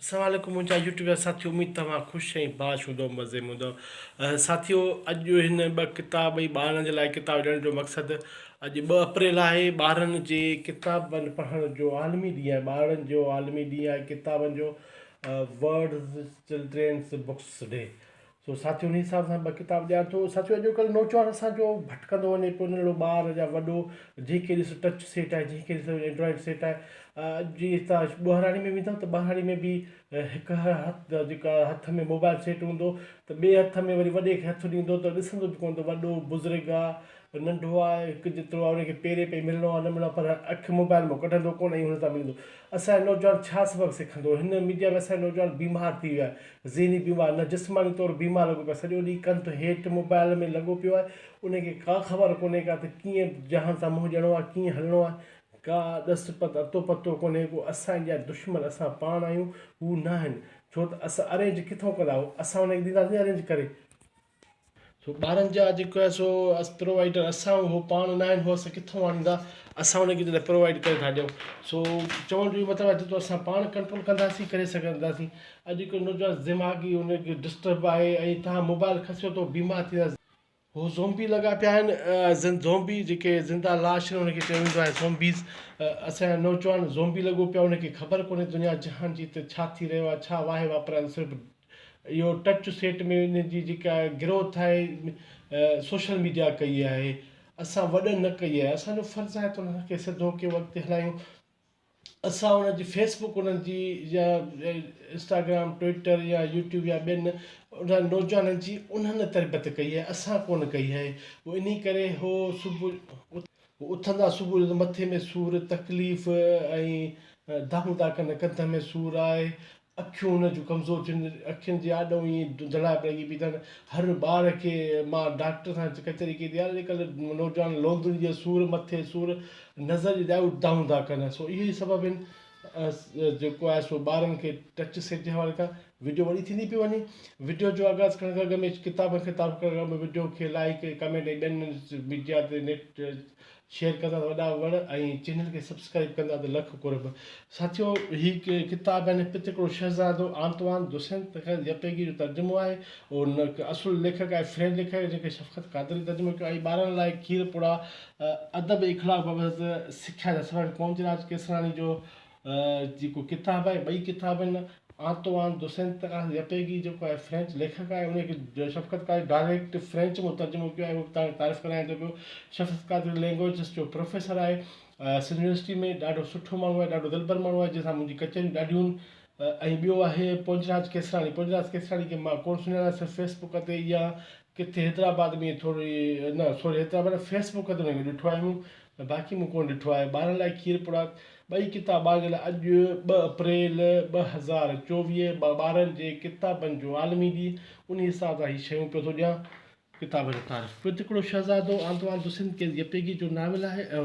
السلام عليڪم منهنجا يوٽيوب جا ساٿيو اميد توهان خوش ۽ باش هوندؤ مزي م هوندؤ ساٿيو اڄ هن ٻه ڪتاب ۽ ٻارن جي لاء ڪتاب ڏيڻ جو مقصد اڄ ٻه اپريل آهي ٻارن جي ڪتابن پڙهڻ جو عالمي ڏينهن آهي ٻارن جو عالمي ڏينهن آهي ڪتابن جو ورلڊ چلڊرينس بڪس ڊي سو ساٿيو انهي حساب سان ٻه ڪتاب ڏيان ٿو ساٿيو اڄوڪلهه نوجوان اسان جو ڀٽڪندو وڃي پيو ننڍڙو ٻار يا وڏو جنهن کي ڏس ٽچ سيٽ آهي جنهن کي ڏس اينڊرائڊ سيٽ آهي اڄ جي تان ٻهراڙي ۾ ويندو ته ٻهراڙي ۾ به هڪ هٿ جيڪا هٿ ۾ موبائل سيٽ هوندو ته ٻئي هٿ ۾ وري وڏي کي هٿ ڏيندو ته ڏسندو به ڪونه ته وڏو بزرگ آهي ننڍو آهي هڪ جيترو آهي ان کي پيري پئي ملڻو آهي نه ملڻو آهي پر اک موبائل مون ڪڍندو ڪونه ۽ هن تان ملندو اسان جو نوجوان ڇا سبق سکندو؟ هن ميڊيا ۾ اسان جو نوجوان بيمار ٿي ويو آهي. ذهني بيمار نه جسماني طور بيمار لڳو پيو آهي. سڄو ڏينهن ڪن تون هيٺ موبائيل ۾ لڳو پيو آهي. ان کي ڪا خبر ڪونهي ڪا ته ڪيئن جهان سان منهن ڏيڻو آهي ڪيئن هلڻو آهي. ڪا ڏس پت اتو پتو ڪونهي ڪو. اسان جي جا دشمن اسان پاڻ آهيون هو نه آهن. ڇو ته اسان ارينج ڪٿون ڪندا هو. اسان انهن کي ڏينداسين ارينج ڪري. سو ٻارن جا جيڪو آهي سو پرووائيڊر اسان آهيون هو پاڻ نه آهن هو اسان ڪٿو آڻيندا اسان انهن کي جڏهن پرووائيڊ ڪري ٿا ڏيون سو چوڻ جو اهو مطلب آهي جيترو اسان پاڻ ڪنٽرول ڪنداسين ڪري سگهنداسين اڄ جيڪو نوجوان دماغي ان کي ڊسٽرب آهي ۽ تهان موبائل کسيو ته بيمار ٿيندا هو زومبي لڳا پيا آهن زن زومبي جيڪي زنده لاش آهن ان کي چيو ويندو آهي زومبيز اسان جا نوجوان زومبي لڳو پيا ان کي خبر ڪونهي دنيا جهان جي هتي ڇا ٿي رهيو آهي ڇا واهي واپرايل صرف اهو ٽچ سيٽ ۾ ان جي جيڪا گروٿ آهي سوشل ميڊيا ڪئي آهي اسان وڏن نه ڪئي آهي اسان جو فرض آهي ته انهن کي سڌو ڪيو اڳتي هلايون اسان انهن جي فيس بڪ انهن جي يا انسٽاگرام ٽوئيٽر يا يوٽيوب يا ٻين انهن نوجوانن جي انهن تربيت ڪئي آهي اسان ڪونه ڪئي آهي انهي ڪري هو صبح هو اٿندا صبح جو ته مٿي ۾ سور، تڪليف ۽ دانهون ٿا ڪن، ڪنڌ ۾ سور آهي، اکيون هن جون ڪمزور ٿيون آهن، اکين جي آڏو ائين ڌنڌڙائپ لڳي پئي اٿن، هر ٻار کي مان ڊاڪٽر سان ڪچهري ڪئي ٿي، اڄڪلهه نوجوان لوندن جي سور، مٿي سور، نظر جي ڏائون دانهون ٿا ڪن، سو اهي ئي سبب آهن. جيڪو آهي سو ٻارن کي ٽچ سيٽ جي حوالي کان وڊيو وڏي ٿيندي پئي وڃي وڊيو جو آغاز ڪرڻ کان اڳ ۾ ڪتاب کي تعارف ڪرڻ کان اڳ ۾ وڊيو کي لائڪ ڪمينٽ ۽ ٻين ميڊيا تي نيٽ شيئر ڪندا ته وڏا وڻ ۽ چينل کي سبسڪرائب ڪندا ته لک قرب ساٿيو هي ڪتاب يعني پت هڪڙو شهزادو آنتوان دوسنت يپيگي جو ترجمو آهي اهو اصل ليکڪ آهي فرينچ ليکڪ جنهن کي شفقت قادري ترجمو ڪيو آهي ٻارن لاء کير پوڙا ادب ۽ اخلاق بابت سکيا جا سبق پونج راج ڪيسراڻي جو جيڪو ڪتاب آهي ٻئي ڪتاب آهن آنتوئان دوسينت تڪاس يپيگي جيڪو آهي فرينچ ليکڪ آهي انهي کي شفقت قادري ڊائريڪٽ فرينچ ۾ ترجمو ڪيو آهي اهو توهان کي تعارف ڪرايان ٿو پيو شفقت قادري لينگويجز جو پروفيسر آهي سنڌ يونيورسٽي ۾ ڏاڍو سٺو ماڻهو آهي ڏاڍو دلبر ماڻهو آهي جنهن سان منهنجي ڪچهريون ڏاڍيون ۽ ٻيو آهي پونج راج ڪيسراڻي پونج راج ڪيسراڻي کي مان ڪونه سڃاڻان صرف فيس بڪ تي يا ڪٿي حيدرآباد ۾ ٿوري نه سوري حيدرآباد نه فيس بڪ تي هن کي ڏٺو آهي مون نه باقي مون ڪونه ڏٺو آهي ٻارن لاء کير پڙا ٻئي ڪتاب ٻارن لاء اڄ ٻه اپريل ٻه هزار چوويهه ٻارن جي ڪتابن جو عالمي ڏينهن انهي حساب سان هي شيون پيو ٿو ڏيان ڪتابن جو تعارف پيو ٽڪڙو شهزادو آنتوان دوسنت ڪيس يپيگي جو ناول آهي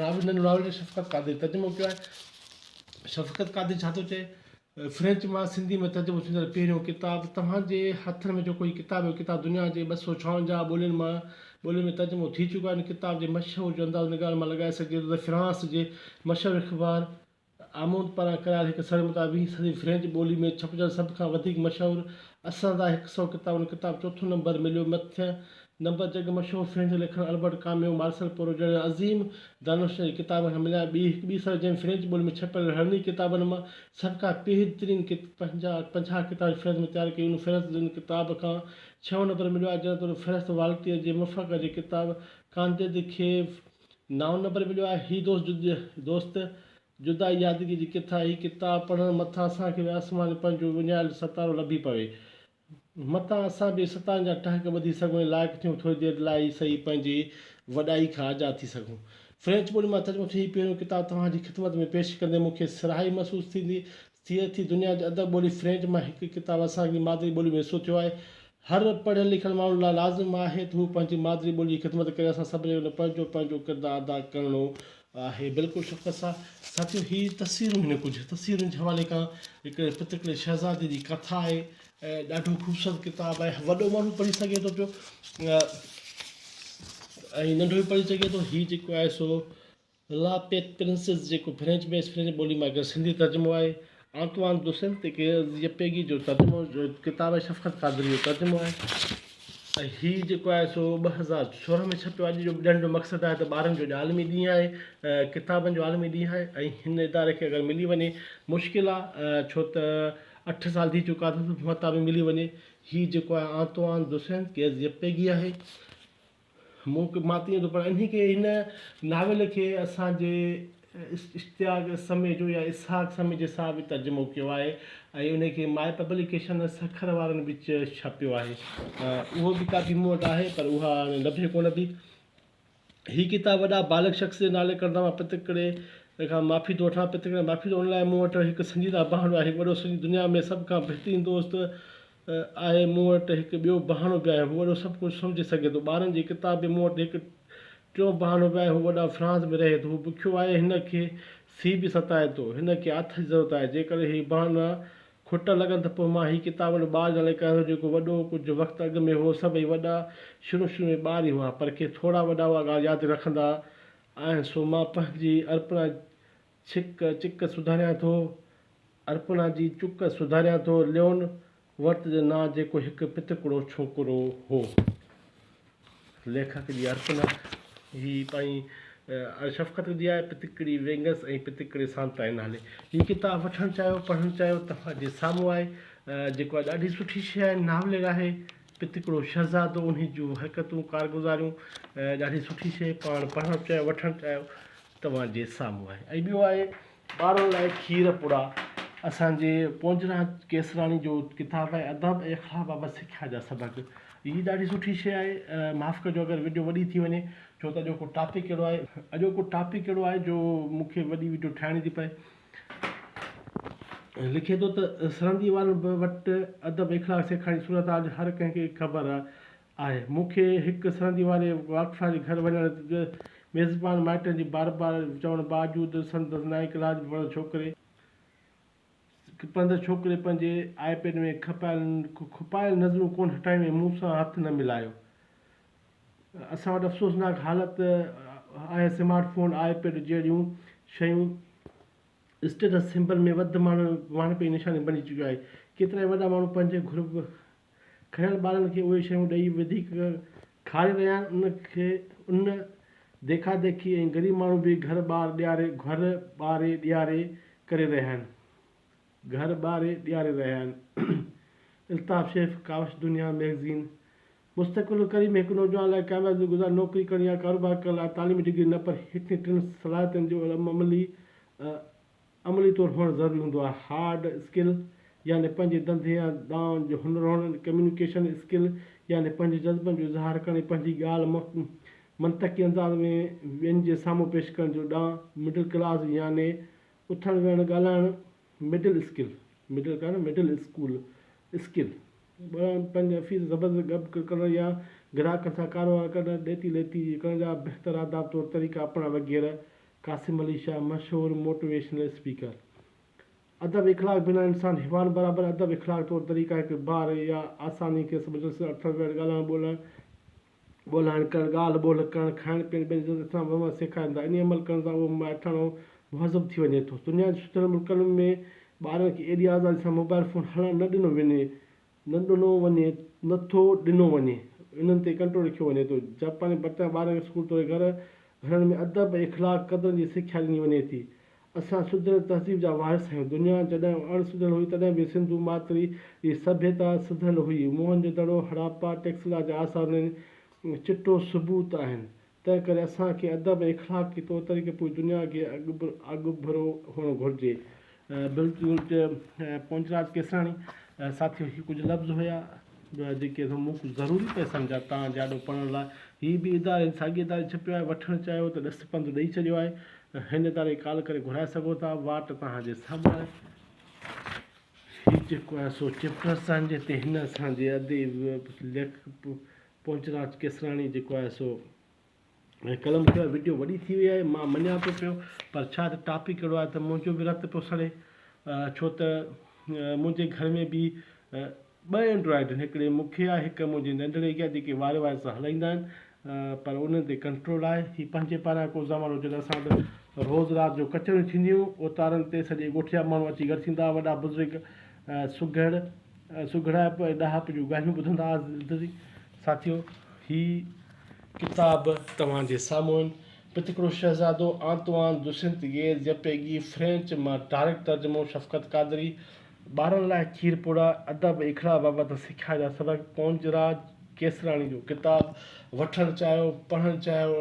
ناول ناول جو شفقت قادري ترجمو ڪيو آهي شفقت قادري ڇا ٿو چئي فرينچ مان سنڌي ۾ ترجمو ٿيندڙ پهريون ڪتاب، توهان جي هٿن ۾ جيڪو هي ڪتاب هي اهو ڪتاب دنيا جي ٻه سؤ ڇاونجاهه ٻولين مان ٻولين ۾ ترجمو ٿي چڪو آهي ان ڪتاب جي مشهور جو اندازو ان ڳالهه مان لڳائي سگهجي ٿو ته فرانس جي مشهور اخبار آموند پاران ڪرايل هڪ سروي مطابق ويهين صدي جي فرينچ ٻولي ۾ ڇپجندڙ سڀ کان وڌيڪ مشهور اساندا هڪ سؤ ڪتابن ڪتاب چوٿون نمبر مليو مٿين نمبر جڳ مشهور فرينچ ليکڪ البرٽ ڪاميو، مارسيل پورو جهڙن عظيم دانشورن جي ڪتابن کان مليا. ٻي هڪ ٻي سرجم فرينچ ٻولي ۾ ڇپيل رهڙني ڪتابن مان سڀ کان پيهد ترين پنجاهه پنجاهه ڪتابن جي فهرست مون تيار ڪئي. ان فهرست جي ان ڪتاب کان ڇهون نمبر مليو آهي، جڏهن ته ان فهرست والٽيئر جي مفرقه جي ڪتاب ڪانديد کي نائون نمبر مليو آهي. هي دوست دوست جدا يادگي جي ڪٿا هي ڪتاب پڙهڻ مٿان اسان کي به آسمان ۾ پنهنجو وڃايل ستارو لڀي پوي متان اسان به ستان جا ٽهڪ ٻڌي سگهون ۽ لائق ٿيون ٿوري دير لاء ئي سهي پنهنجي وڏائي کان آزاد ٿي سگهون. فرينچ ٻولي مان ترجمو ٿيل هي پهريون ڪتاب توهان جي خدمت ۾ پيش ڪندي مون کي سرهائي محسوس ٿيندي ٿئي ٿي. دنيا جي ادب ٻولي فرينچ مان هڪ ڪتاب اسان جي مادري ٻولي ۾ وسو ٿيو آهي. هر پڙهيل لکيل ماڻهو لاء لازم آهي ته هو پنهنجي مادري ٻولي جي خدمت ڪري اسان سڀني کي ان پڙ جو پنهنجو ڪردار ادا ڪرڻو آهي بلڪل شفقت صاحب ساٿيو هي تصويرون هن ڪجهه تصويرن جي حوالي کان هڪ پترڪڙي شهزادي جي ڪٿا آهي ۽ ڏاڍو خوبصورت ڪتاب آهي وڏو ماڻهو به پڙهي سگهي ٿو پيو ۽ ننڍو به پڙهي سگهي ٿو هي جيڪو آهي سو لا پيت پرنسز جيڪو فرينچ ۾ فرينچ ٻولي مان اگر سنڌي ترجمو آهي آنطوان دوسيل تي ڪيل زيپيگي جو ترجمو جو ڪتاب شفقت قادري جو ترجمو آهي ۽ هي جيڪو آهي سو ٻه هزار سورهن ۾ ڇپيو آهي جو ڄڻ جو مقصد آهي ته ٻارن جو اڄ عالمي ڏينهن آهي ڪتابن جو عالمي ڏينهن آهي ۽ هن اداري کي اگر ملي وڃي مشڪل آهي ڇو ته اٺ سال ٿي چڪا اٿس مهتا به ملي وڃي هي جيڪو آهي آنطوان دوسيل ڪيل زيپيگي آهي مون کي مان تيئن ٿو پڙهان انهي کي هن ناول کي اسان جي اشتياق سميجو يا اسحاق سميجي سان به ترجمو ڪيو آهي ۽ انهي کي مائي پبليڪيشن سکر وارن به ڇپيو آهي اهو به ڪاپي مون وٽ آهي پر اها هاڻي لڀي ڪونه ٿي هي ڪتاب وڏا بالغ شخص جي نالي ڪردا مان پتڪڙي کان معافي ٿو وٺان پتڪڙي معافي ٿو ان لاء مون وٽ هڪ سنجيده بهانو آهي هڪ وڏو سنجيده دنيا ۾ سڀ کان بهترين دوست آهي مون وٽ هڪ ٻيو بهانو به آهي هو وڏو سڀ ڪجهه سمجهي سگهي ٿو ٻارن جي ڪتاب ۾ مون وٽ هڪ ٽيون بهانو به آهي هو وڏا فرانس ۾ رهي ٿو هو بکيو آهي هن کي سي به ستائي ٿو هن کي آٿت جي ضرورت آهي جيڪڏهن هي بهانا کوٽا لڳن ته پوء مان هي ڪتاب ان ٻار جي نالي ڪيان ٿو جيڪو وڏو ڪجهه وقت اڳ ۾ هو سڀئي وڏا شروع شروع ۾ ٻار ئي هئا پر کي ٿورا وڏا اها ڳالهه ياد رکندا آهن سو مان پنهنجي ارپنا ڇڪ چڪ سڌاريان ٿو، ارپنا جي چڪ سڌاريان ٿو، ليون ورت جي نانء جيڪو هڪ پتڪڙو ڇوڪرو هو. ليکڪ جي ارپنا هي پائين شفقت جي آهي، پتڪڙي وينگس ۽ پتڪڙي سانتائي نالي. هي ڪتاب وٺڻ چاهيو، پڙهڻ چاهيو، توهان جي سامهون آهي، جيڪو آهي ڏاڍي سٺي شيء آهي، ناولير آهي، پتڪڙو شهزادو، انهي جون حرڪتون، ڪارگذاريون ڏاڍي سٺي شيء، پاڻ پڙهڻ چاهيو، وٺڻ چاهيو. توهان جي سامهون آهي ۽ ٻيو آهي ٻارن لاء کير پوڙها اسان جي پونجرا ڪيسراڻي جو ڪتاب آهي ادب ۽ اخلاق بابت سکيا جا سبق هي ڏاڍي سٺي شيء آهي معاف ڪجو اگر وڊيو وڏي ٿي وڃي ڇو ته اڄوڪو ٽاپڪ اهڙو آهي اڄوڪو ٽاپڪ اهڙو آهي جو مون کي وڏي وڊيو ٺاهڻي ٿي پئي لکي ٿو ته سرندي وارن وٽ ادب اخلاق سيکارڻ جي صورتحال هر ڪنهن کي خبر آهي آهي. مون کي هڪ سرندي واري واقفا جي گهر وڃڻ تي ميزبان مائٽن جي بار بار چوڻ باوجود سندس نائين ڪلاس ۾ پڙهندڙ ڇوڪري پڙهندڙ ڇوڪري پنهنجي آء پيڊ ۾ کپايل کپايل نظرون ڪونه هٽايون ۽ مون سان هٿ نه ملايو. اسان وٽ افسوسناڪ حالت آهي سمارٽ فون، آء پيڊ جهڙيون شيون اسٽيٽس سمبل ۾ وڌ ماڻهن پئي نشاني بڻجي چڪيون آهي. ڪيترائي وڏا ماڻهو پنهنجي گهر کنيل ٻارن کي اهي شيون ڏئي وڌيڪ کاري رهيا آهن ان کي ان ديکا ديکي ۽ غريب ماڻهو به گهر ٻار ڏياري گهر ٻاري ڏياري ڪري رهيا آهن گهر ٻاري ڏياري رهيا آهن الطاف شيف ڪاوش دنيا ميگزين مستقل ڪري ۾ هڪ نوجوان لاء ڪامياب گذار نوڪري ڪرڻ يا ڪاروبار ڪرڻ لاء تعليمي ڊگري نه پر هيٺين ٽن صلاحيتن جو عملي عملي طور هئڻ ضروري هوندو آهي. هارڊ اسڪل يعني پنهنجي ڌنڌي يا ڏانء جو هنر هئڻ، ڪميونيڪيشن اسڪل يعني پنهنجي جذبن جو اظهار ڪرڻ ۽ پنهنجي ڳالهه منطقي انداز ۾ ٻين جي سامهون پيش ڪرڻ جو ڏانء، مڊل ڪلاس يعني اٿڻ ويهڻ ڳالهائڻ، middle skill, middle class, middle school, skill, ٻرڻ، پنهنجي افيس زبردست گڏ ڪرڻ يا گراهڪن سان ڪاروهنوار ڪرڻ، ڏيتي ليتي ڪرڻ جا بهتر آداب طور طريقا اپنائڻ وغيره قاسم علي شاهه مشهور موٽيويشنل اسپيڪر ادب اخلاق بنا انسان حيوان برابر ادب اخلاق طور طريقه هڪ بار يا آساني کي سمجهڻ سر اٿڻ ويهڻ ڳالهائڻ ٻولهائڻ ڳولهائڻ ڪرڻ ڳالهه ٻولهه ڪرڻ کائڻ پيئڻ ٻين جي عزت احترام وهنوار سيکارين ٿا انهي عمل ڪرڻ سان اهو مائٺاڻو ۽ مهذب ٿي وڃي ٿو دنيا جي سڌريل ملڪن ۾ ٻارن کي ايڏي آزادي سان موبائل فون هلڻ نه ڏنو وڃي نه ڏنو وڃي نه ٿو ڏنو وڃي انهن تي ڪنٽرول رکيو وڃي ٿو جاپاني پرتيان ٻارن کي اسڪول توڙي گهر گهرن ۾ ادب ۽ اخلاق قدرن جي سکيا ڏني وڃي ٿي اسان سڌريل تهذيب جا وارث آهيون دنيا جڏهن اڻ سڌريل هئي تڏهن به سنڌو ماتري جي سڀيتا سڌريل هئي موهن جو دڙو هڙاپا ٽيڪسلا جا آثار انهن چٽو ثبوت آهن تنهن ڪري اسان کي ادب ۽ اخلاق جي طور طريقي پوري دنيا اڳي اڳڀرو هئڻو گهرجي. بلڪل ته پونجراج ڪيساڻي ساٿيو هي ڪجهه لفظ هيا جيڪي مون ڪجهه ضروري پئي سمجهيا توهان جي آڏو پڙهڻ لاء. هي به اداري هن ساڳي اداري ڇپيو آهي وٺڻ چاهيو ته ڏس پنڌ ڏئي ڇڏيو آهي هن اداري ڪال ڪري گهرائي سگهو ٿا واٽ توهان جي سامهون آهي. هي جيڪو آهي سو چيپٽر اسان جي تي هن اسان جي اديب ليکڪ پونچراج ڪيسراڻي جيڪو آهي سو ۽ قلم کڻيو آهي وڊيو وڏي ٿي وئي آهي مان مڃان ٿو پيو پر ڇا ته ٽاپڪ اهڙو آهي ته منهنجو به رت پيو سڙي ڇو ته منهنجي گهر ۾ به ٻه اينڊرائڊ آهن هڪڙي مون کي آهي هڪ منهنجي ننڍڙي کي آهي جيڪي واري واري سان هلائيندا آهن پر انهن تي ڪنٽرول آهي هي پنهنجي پاران ڪو زمانو هو جڏهن اسان وٽ روز رات جو ڪچهريون ٿينديون هيون اوطارن تي سڄي ڳوٺ جا ماڻهو اچي گڏ ٿيندا هئا وڏا بزرگ سگهڙ سگهڙائپ ۽ ڏاهپ جون ڳالهيون ٻڌندا آهي. ساٿيو هي ڪتاب توهان جي سامهون پتڪڙو شهزادو آنتوان دوسنت گيز جپيگي فرينچ مان ڊائريڪٽ ترجمو شفقت قادري ٻارن لاء کير پوڙها ادب اکڙا بابت سکيا جا سبق پونج راج ڪيسراڻي جو ڪتاب وٺڻ چاهيو پڙهڻ چاهيو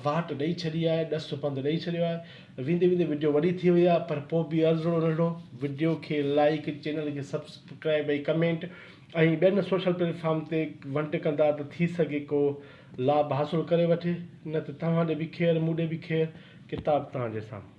واٽ ڏئي ڇڏي آهي ڏس پنڌ ڏئي ڇڏيو آهي ويندي ويندي وڊيو وڏي ٿي وئي آهي پر پوء به عرضڙو رڙڙو وڊيو کي لائيڪ چينل کي سبسڪرائيب ۽ ڪمينٽ ۽ ٻين سوشل پليٽ فارم تي ونٽ ڪندا ته ٿي سگهي ڪو لاڀ حاصل ڪري وٺي نه ته توهان ڏي به خير مون ڏي به خير ڪتاب توهان جي سامهون.